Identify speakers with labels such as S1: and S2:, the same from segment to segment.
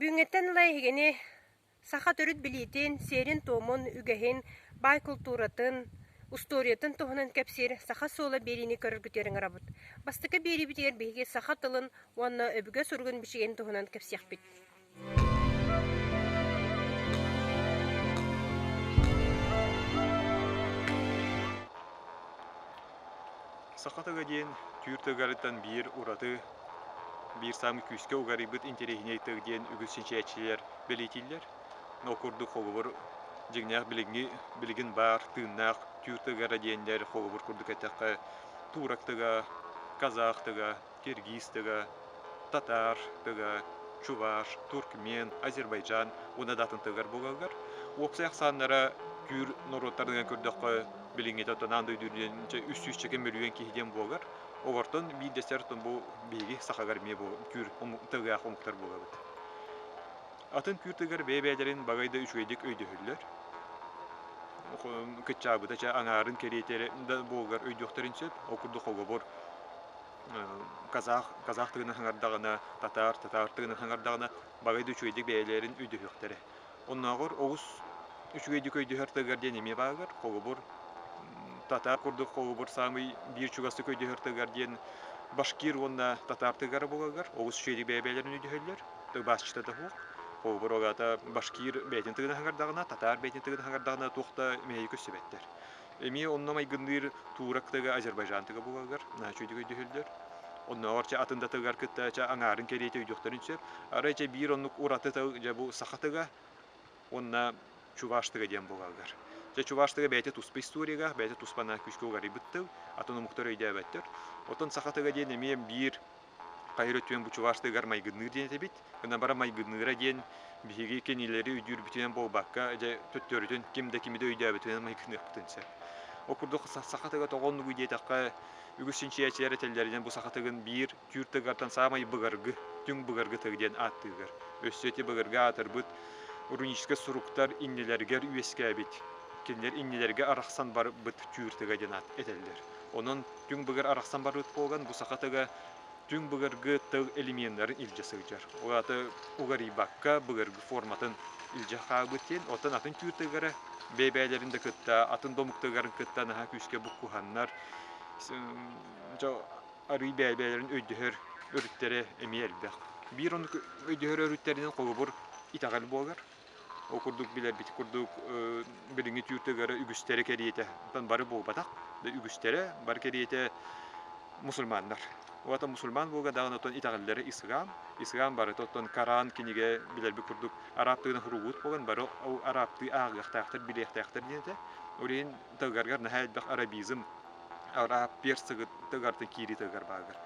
S1: Бүгүҥҥэттэн ыла эһигини саха төрүт билиитин, сиэрин-туомун, үгэһин, баай култууратын, устуоруйатын туһунан кэпсиир саха суола биэриини көрөргүтүөр ыҥырабыт. Бастакы биэриибитигэр биһиги саха тылын уонна өбүгэ суругун бичигин туһунан кэпсиэхпит. Саха тыга диэн түүр тыгыарыттан биир ураты, биир саамы күүскэ угарыйбыт интэриэһинэй тыг диэн үгүс чинчийээччилэр бэлиэтииллэр. Но курдук холобур дьиҥнээх билиҥҥи билигин баар тыыннаах түүр тыгара диэннэр холобур курдук эттэххэ туурак тыга, казах тыга киргиз тыга, татаар тыга, чуваш, туркмен, азербайджан уонна да атын тылыгар буолаллар. Уопсай ахсааннара түүр норуоттарынан көрдөххө, билиҥҥитэ оттон аан дойду үрдүнэн үс чэким мөлүйүөн киһи диэн буолар. Огортон биирдэстэр оттон бу биһиги сахаҕар эмиэ бу түүр тылыгаах омуктар буолабыт. Атын түүр тылыгар бэйэ-бэйэлэрин багай да үчүгэйдик өйдөһөллөр. Кыччаабыта чэ аҥаарын кэриэтэ да буолугар өйдүөхтэрин сөп. Ол курдук холобур казах казах тыына саҥардаҕына татаар татаар тыына саҥардаҕына баҕай да үчүгэйдик бэйэлэрин өйдөһүөхтэрэ оннооҕор оҕус үчүгэйдик өйдөһөр тыгар диэн эмиэ бааргар холобур татаар курдук холобур саамай биир чугастык өйдөһөр тыгар диэн башкир уонна татаар тыгара буоларгар оҕус үчүгэйдик бэйэ-бэйэлэрин өйдөһөллөр тылбаасчыта да суох холобур ол аата башкир бэйэтин тыгына саҥардаҕына татаар бэйэтин тыгына саҥардаҕына туох да мэһэйи көстүбэттэр Эмиэ онно майгынныыр Турактыга, Азербайджантыга буолаллар, үчүгэй түһүллэр. Оннооҕор чэ атын да тылыгар кытта чэ аҥаарын кэриэтэ өйдüөхтэрин сөп. Арай чэ биир оннук ураты тыл дьэ бу Сахатыга уонна Чуваштыга диэн буолаллар. Дьэ Чуваштыга бэйэтэ туспа историяга, бэйэтэ туспа күүскэ уларыйбыт тыл, атын омуктар өйдөөбөттөр. Оттон Сахатыга диэн эмиэ биир Хаһыра түөн бучуваштыгар майгынныыр диэн этибит. Гына бара майгынныыра диэн биһиги кинилэри өйдүүрбүтүнэн буолбакка, дьэ төттөрүтүн ким да кимиди өйдөөбүтүнэн майгыныахпытын сөп. Ол курдук саха тыга тоҕо оннугуй диэтэххэ, үгүс чинчийээччилэр этэллэринэн бу саха тыгын биир түүр тыгыттан саамай былыргы, түҥ былыргы тыгы диэн ааттыыллар. Өссө ити былыргы аатырбыт руническай суруктар иннилэригэр үөскээбит, кинилэр иннилэргэ арахсан барбыт түүр тыга диэн аат этэллэр. Онон түҥ быгыр арахсан барбыт буолан, бу саха тыга түҥ быгыргы тыл элеменнарын илдьэ сылдьар. Ол аата угарыйбакка быгыргы форматын илдьэ хаалбыт диэн, оттон атын түүр тыгара бэйэ-бэйэлэрин да кытта, атын домук тыгарын кытта наһаа күүскэ буккуһаннар, арыый бэйэ-бэйэлэрин өйдөһөр өрүттэрэ эмиэ элбэх. Биир оннук өйдөһөр өрүттэринэн холобур итэҕэл буолар. Ол курдук билэрбит курдук билиҥҥи түүртүгэр үгүстэрэ кэриэтэ, онтон бары буолбатах, да үгүстэрэ бары кэриэтэ мусульманнар. Уота мусульман буолга даҕаны оттон итэҕэллэрэ ислам. Ислам барыта оттон Коран кинигэ билэрбит курдук араптыынан суругуут болон бары ол араптыы ааҕыахтаахтар, билиэхтээхтэр диэнэтэ. Ол иһин тылгаргар наһаа элбэх арабизм араб персыгыт тыгартан киирии тыгар бааргар.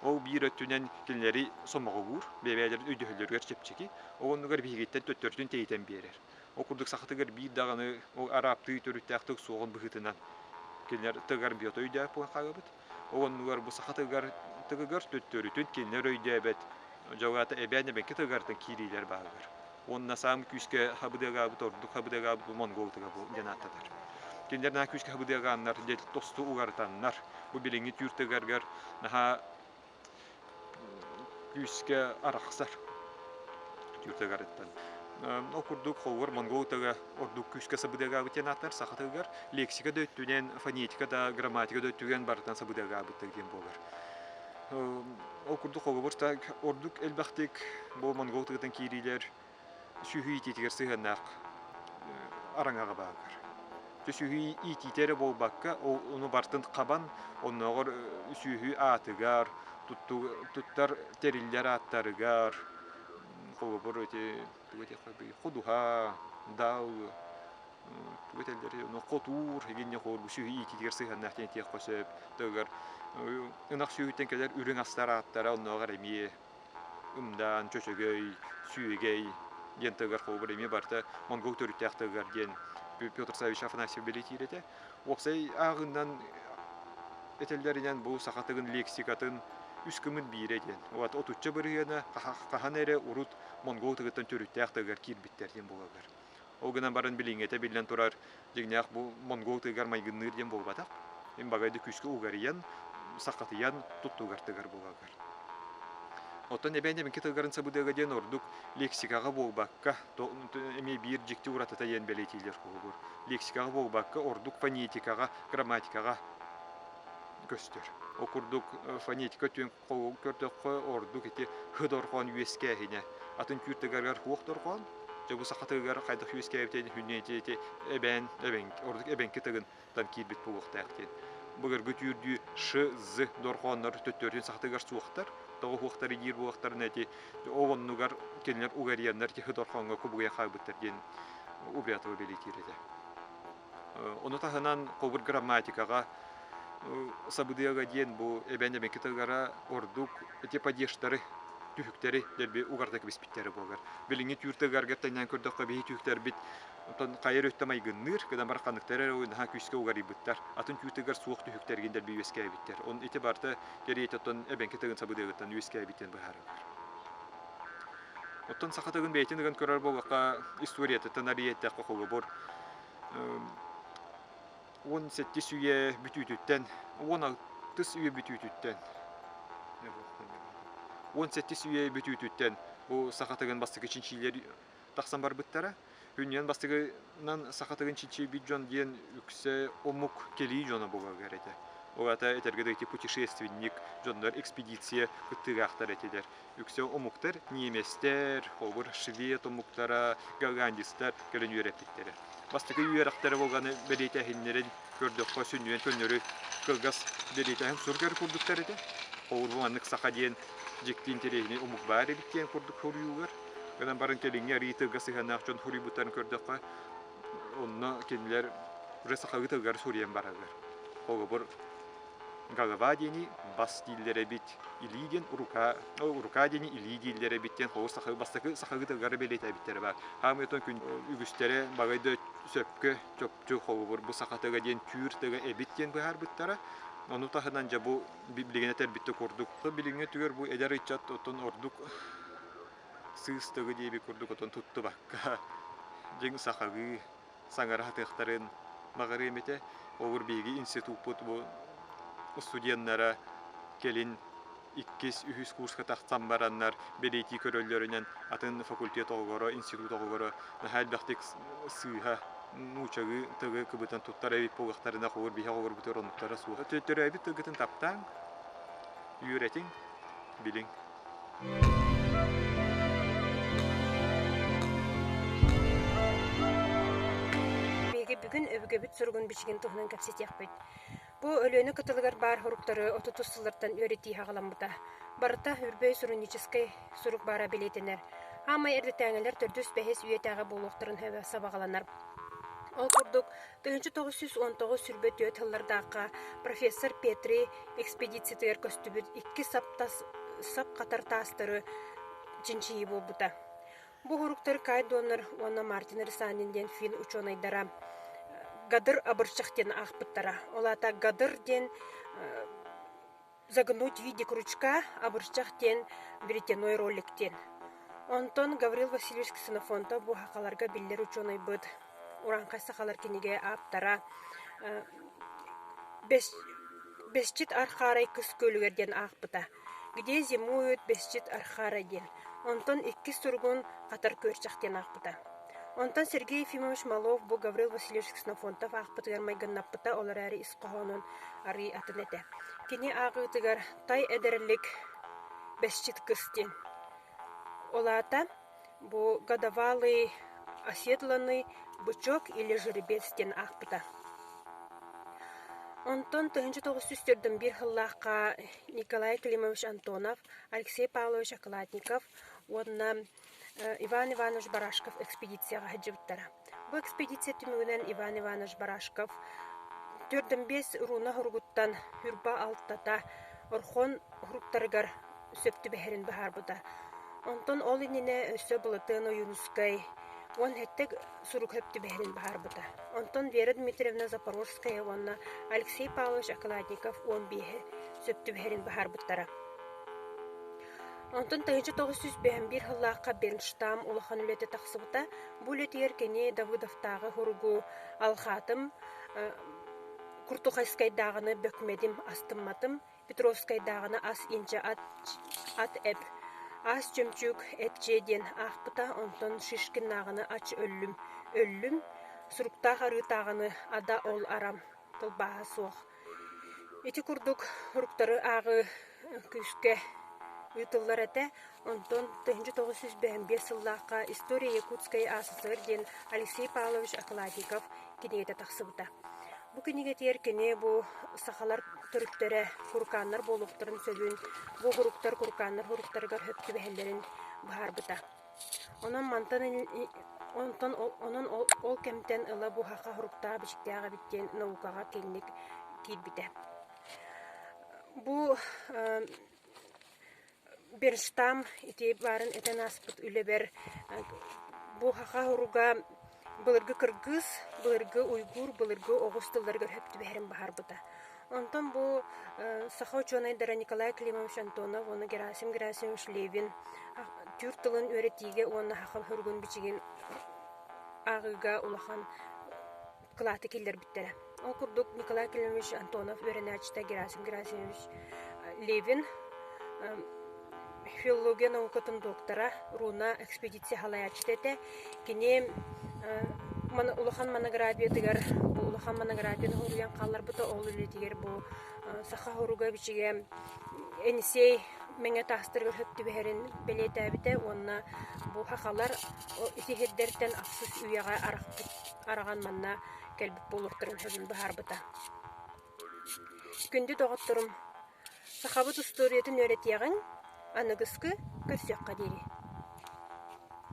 S1: Ол биир өттүнэн кинилэри сомоҕолуур, бэбээлэрин өйдөһөллөрүгэр чэпчэки. Ол оннугар биһигиттэн төттөрүтүн тиһитэн биэрэр. Ол курдук сахатыгар биир даҕаны ол араптыы төрүттээхтик суоҕун быһыытынан кинилэр тыгар биотойдоох буолан хаалабыт. Ол оннугар бу саха тыгар тыгыгар төттөрүтүн кинилэр өйдөөбөт дьылҕата эбээн-эбэҥки тыгартан киириилэр бааллар. Уонна саам күүскэ хабыдыагаабыт ордук хабыдыагаабыт бу монгол тыга диэн ааттатар. Кинилэр наһаа күүскэ хабыдыагааннар, дьэ тосту угартаннар. Бу билиҥҥи түүр тыгаргар наһаа күүскэ арахсар ол курдук холугар монгол тыга ордук күүскэ сабыдыагаабыт диэн ааттар саха тылыгар лексика да өттүнэн фонетика да грамматика да өттүнэн барытын сабыдыагаабыттар диэн буолар ол курдук холобур ордук элбэхтик бу монгол тыгытын киириилэр сүһү иитиитигэр сыһыаннаах араҥаҕа бааллар. Сүһү иитиитэ эрэ буолбакка, ону барытын хабан, оннооҕор сүһү аатыгар, туттар тэриллэр ааттарыгар, холобур, эти тугу этиэххэ ходуһа, дал, тугу этэллэр, ону хотуур, эгинни хотуур бу сүһү иитиитигэр сыһыаннаах диэн этиэххэ сөп. Ынах сүһүттэн кэлэр үрүҥ астар ааттара оннооҕор эмиэ ымдаан, чөчөгөй, сүөгэй диэн тылыгар холобур эмиэ барда. Монгол төрүттээх тылыгар диэн Петр Савич Афанасьев бэлэтиир этэ. Уопсай ааҕыынан этэллэринэн бу саха тылын лексикатын үс кымын биирэ диэн. Вот отучча бырыһыана хаһан эрэ урут монгол тылыттан төрүттээх тылыгар киирбиттэр диэн буолаллар. Ол гынан баран билиҥҥэтэ биллэн турар, дьиҥнээх бу монгол тыгар майгынныыр диэн буолбатах. Мин багайды күүскэ угарыйан, сахатыйан туттугар тыгар буолалгар. Оттон эбээн эбинки тылгарын сабыдыага диэн ордук лексикаҕа буолбакка, эмиэ биир дьикти уратыта диэн бэлиэтиилэр куһугур. Лексикаҕа буолбакка, ордук фонетикаҕа, грамматикаҕа көстөр. Ол курдук фонетика Хоһугу көрдөххө, ордук ити һыдорҕоон үөскээһинэ. Атын күүртэгэргэр хуох дорҕоон, дьабы сахатыгар хайдах үөскээбитин хүннээти ити эбээн, эбэҥ, ордук эбэҥки тыгын там киирбит буолуохтаахтын. Быгыргы түүрдүү ш-з дорҕооннор төттөрүтүн сахатыгар суохтар, тоҕо хуохтар иир буолахтарына ити ол оннугар кинилэр угарьяннар ити һыдорҕооҥҥо кубуйа хаалбыттар диэн убрятова бэлиэтиир этэ. Ону таһынан кобыр грамматикаҕа сабыдыага диэн бу эбэн эбэки тыгара ордук эти падештары түһүктэри дэрби угарда кэбиспиттэрэ буолар. Билиҥҥи түүр тыгаргар тэннээн көрдөххө биһи түһүктэрбит отон хайар өттө майгынныыр, кыдан бар ханныктар эрэ уйнаха күүскэ угарыйбыттар. Атын түүтыгар суох түһүктэргин дэрби үөскээбиттэр. Он ити барда кэриэт отон эбэнки тыгын сабыдыагыттан үөскээбиттэн быһаарылар. Оттон саха тылын бэйэтин ыган көрөр буоллахха, историятыттан арыйыйтахха холобур уон сэттис үйэ бүтүүтүттэн, уон алтыс үйэ бүтүүтүттэн уон сэттис үйэ бүтүүтүттэн бу саха тылын бастакы чинчилэр тахсан барбыттара. Үнньүөн бастыгынан саха тыгын чинчийбит дьон диэн үксэ омук кэлии дьоно буолар этэ. Ол аата этэргэ дойду путешественник, дьоннор экспедиция кыттыылаахтар этилэр. Үксэ омуктар немецтэр, холобур швед омуктара, голландецтар кэлэн үөрэппиттэрэ. Бастакы үөрэхтэрэ болҕаны бэлиэтээһиннэрин көрдөххө сүнньүөн көннөрү кылгас бэлиэтэ сурук эрэ курдуктар этэ. Оҕур бу маннык саха диэн дьиктиин интэриэһинэй омук баар эбит диэн курдук хоруйугар. Гынан баран кэлиҥҥи арыйыы тылга сыһыаннаах дьон хоруйбуттарын көрдөххө, онно кинилэр уже сахалыы тылгар суруйан бараллар. Холобур, голова диэни бас дииллэр эбит, илии диэн рука, рука диэни илии дииллэр эбит диэн холус сахалыы бастакы сахалыы тылгары бэлиэтээбиттэрэ баар. Хаамыйтан күн үгүстэрэ баҕайда сөпкө тыл холобур бу саха тыга диэн түүр тыга эбит диэн быһаарбыттара. Ону таһынан дьэ бу билигин этэрбитте курдук билиҥҥи түгэр бу эдэр ыччат оттон ордук сыыс тыгы диэби курдук отон туттубакка дьиҥ сахалыы саҥараһатыахтарын баҕарыам этэ. Ол биһиги институппут бу студеннара кэлин иккис, үһүс курска тахсан бараннар бэлиэтии көрөллөрүнэн атын факультет оҕугура, институт оҕугура наһаа элбэхтик сыыһа, нуучагыы тылы кыбытан туттар эбит буоллахтарына оҕугур биһи оҕугурбутугар оннуктара суоҕа. Төрөөбүт тылгытын таптааҥ, үөрэтиҥ, билиҥ. Биһиги бүгүн өбүгэбит суругун бичигин туһунан кэпсэтиэхпит. Бу Өлүөнэ кытылыгар баар соруктары отутус сыллартан үөрэтии саҕаламмыта. Барыта Үрбөй суруйууччускай сурук баара бэлиэтэнэр. Аамай эрдэтээҥилэр төрдүс-бэһис үйэтээҕи буолуохтарын сөбө сабаҕаланар. Ол курдук, тыһыынча тоҕус сүүс он тоҕус сүүрбэ түөрт сыллардаахха профессор Петри экспедициятыгар көстүбүт икки сап тас сап хатар таастары чинчийии буолбута. Бу уһуруктар Кай Доннер уонна Мартин Рисанин диэн финн учуонайдара Гадыр абыршах диэн аахпыттара. Ол аата Гадыр диэн загнуть в виде крючка, абыршах диэн веретеной ролик диэн. Онтон Гаврил Васильевич Ксенофонтов бу сахаларга биллэр учуонайбыт урааҥхай сахалар кинигэ ааптара Бэсчит архаарай кыс күөлүгэр диэн аахпыта. Где зимуют бесчит архара диэн. Онтон иккис суругун Хатар күөрчэх диэн аахпыта. Онтон Сергей Ефимович Малов бу Гаврил Васильевич Ксенофонтов аахпытыгар майгыннаппыта, ол эрээри ис хоһоонун арыый атын этэ. Кини ааҕыытыгар тай эдэрэлик Бэсчит кыс диэн. Ол аата Бу годовалый оседланный бычок или жеребец диэн аахпыта. Онтон тыһыынча тоҕус сүүс төрдүн биир сыллаахха Николай Климович Антонов, Алексей Павлович Околотников уонна Иван Иванович Барашков экспедицияҕа сылдьыбыттара. Бу экспедиция түмүгүнэн Иван Иванович Барашков төрдөн биэс руна уругуттан Ньурба алтата Орхон уруктарыгар сөп түбэһэрин быһаарбыта. Онтон ол иннинэ өссө Былатыан Ойуунускай уон сэттэ сурук сөп түбэһэрин быһаарбыта. Онтон Вера Дмитриевна Запорожская уонна Алексей Павлович Окладников уон биэһи сөп түбэһэрин быһаарбыттара. Онтон тэһиччи тоҕус сүүс бэһэн биир сыллаахха Бенштам улахан үлэтэ тахсыбыта. Бу үлэтигэр кини Давыдовтааҕы суругу алҕаатым, Куртухайскайдааҕыны бөкмөдүм, астымматым, Петровскайдааҕыны ас-индьэ ат, ат эб, ас чөмчүүк эпчиэ диэн аахпыта, онтон Шишкиннааҕыны ач өллүм, өллүм, Суруктаах арыытааҕыны ада ол арам тылбааһа суох. Ити курдук уруктары ааҕыы күүскэ ыытыллар этэ. Онтон 1985 сыллаахха «История Якутской СССР» диэн Алексей Павлович Акладиков кинигэтэ тахсыбыта. Бу кинигэтигэр кини бу сахалар төрүттэрэ куркааннар буолуохтарын сөбүн, бу уруктар куркааннар уруктарыгар сөп түбэһэллэрин быһаарбыта. Онон мантан онтон онон ол кэмтэн ыла бу саха суруктаах-бичиктээх эбит диэн наукаҕа киҥник киирбитэ. Бу Берстам ити баарын этэн ааспыт үлэбэр бу саха суруга Былыргы кыргыыс, былыргы уйгуур, былыргы оҕус тылларыгар өһөп түбэһэрин баһарбыта. Онтон бу саха учуонайдара Николай Климович Антонов уонна Герасим Герасимович Левин түүр тылын үөрэтиигэ уонна саха соругун-бичигин ааҕыыга улахан кылааты киллэрбиттэрэ Ол курдук Николай Кириллович Антонов үөрэнээччитэ Герасим Герасимович Левин филология наукатын доктора, руна экспедиция салайааччыта этэ. Кини улахан монографиятыгар бу улахан монографияны хоруйан хаалларбыта ол үлэтигэр бу саха хоруга бичигэ Энисей Мэҥэ таастырга түбэһэрин бэлиэтээбитэ уонна бу хахалар ити сирдэртэн ахсыс үйэҕэ арахпыт араҕан манна кэлбит буолуохтарын сөбүн быһаарбыта. Күндү доҕотторум, сахабыт устуоруйатын үөрэтиэҕиҥ, аныгыскы көрсүөххэ диэри.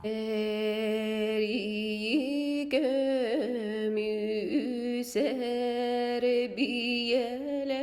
S1: Эрийикэмүсэрбиэлэ